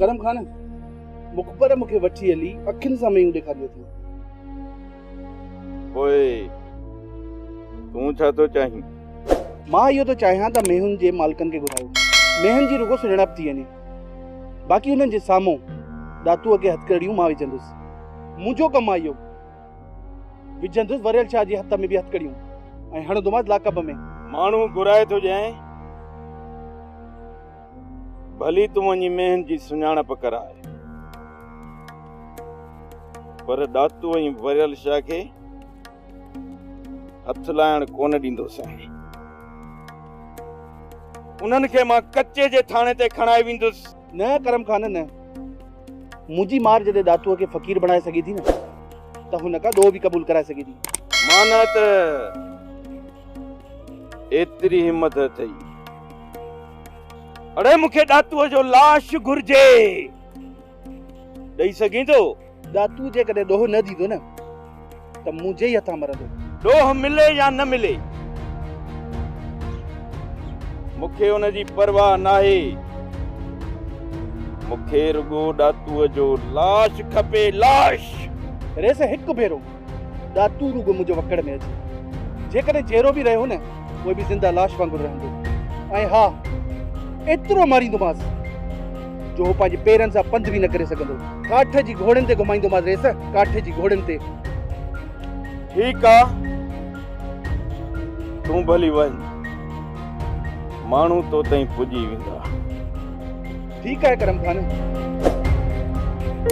ڪرم خان مخبر مون کي وٺي هلي اکين سان ميون ڏيکاري اٿيو. پوء تون ڇا ٿو چاهين؟ مان اهو ٿو چاهيان ته ميون جي مالڪن کي گهرايو. ميون جي رڳو سڃاڻپ ٿي وڃي. باقي انهن جي سامهون ڏاتوء کي هٿڪڙيون مان وجهندس. منهنجو ڪم آهي اهو. وجهندس وريل شاهه جي هٿ ۾ به هٿڪڙيون ۽ هڻندومانس لاقب ۾. ماڻهو گهرائي ٿو ڄائين. ڀلي تون وڃي مينھن جي سڃاڻپ ڪراء، پر ڏاتو ۽ وريل شاھ کي ھٿ لائڻ ڪونه ڏيندوسين. انھن کي مان ڪچي جي ٿاڻي تي کڻائي ويندس. نه ڪرم خان نه. منھنجي مار جڏھن ڏاتوء کي فقير بڻائي سگھي ٿي نه ته ھن کان ڏوھ به قبول ڪرائي سگھي ٿي. مانء ته ايتري ھمت اٿئي. اڙي مون کي ڏاتوء جو لاش گهرجي. ڏئي سگهين ٿو؟ ڏاتو جيڪڏهن ڏوهه نه ڏيندو نه ته منهنجي ئي هٿان مرندو. ڏوهه ملي يا نه ملي مون کي ان جي پرواهه ناهي. مون کي رڳو ڏاتوء جو لاش کپي، لاش! ريس هڪ ڀيرو. ڏا تون رڳو منهنجي وڪڙ ۾ اچ. جيڪڏهن جيئرو به رهيو نه پوء به زنده لاش وانگر رهندو ۽ ها ايترو ماريندومانس جو هو پنهنجي پيرن سان پنڌ به نه ڪري سگهندو. ڪاٺ جي گهوڙين تي گهمائيندومانس ريس ڪاٺ جي گهوڙين تي. ٺيڪ آ تون به هلي وڃ ماڻهو تو تائين پڄي ويندا. ٺيڪ آهي ڪرم خان.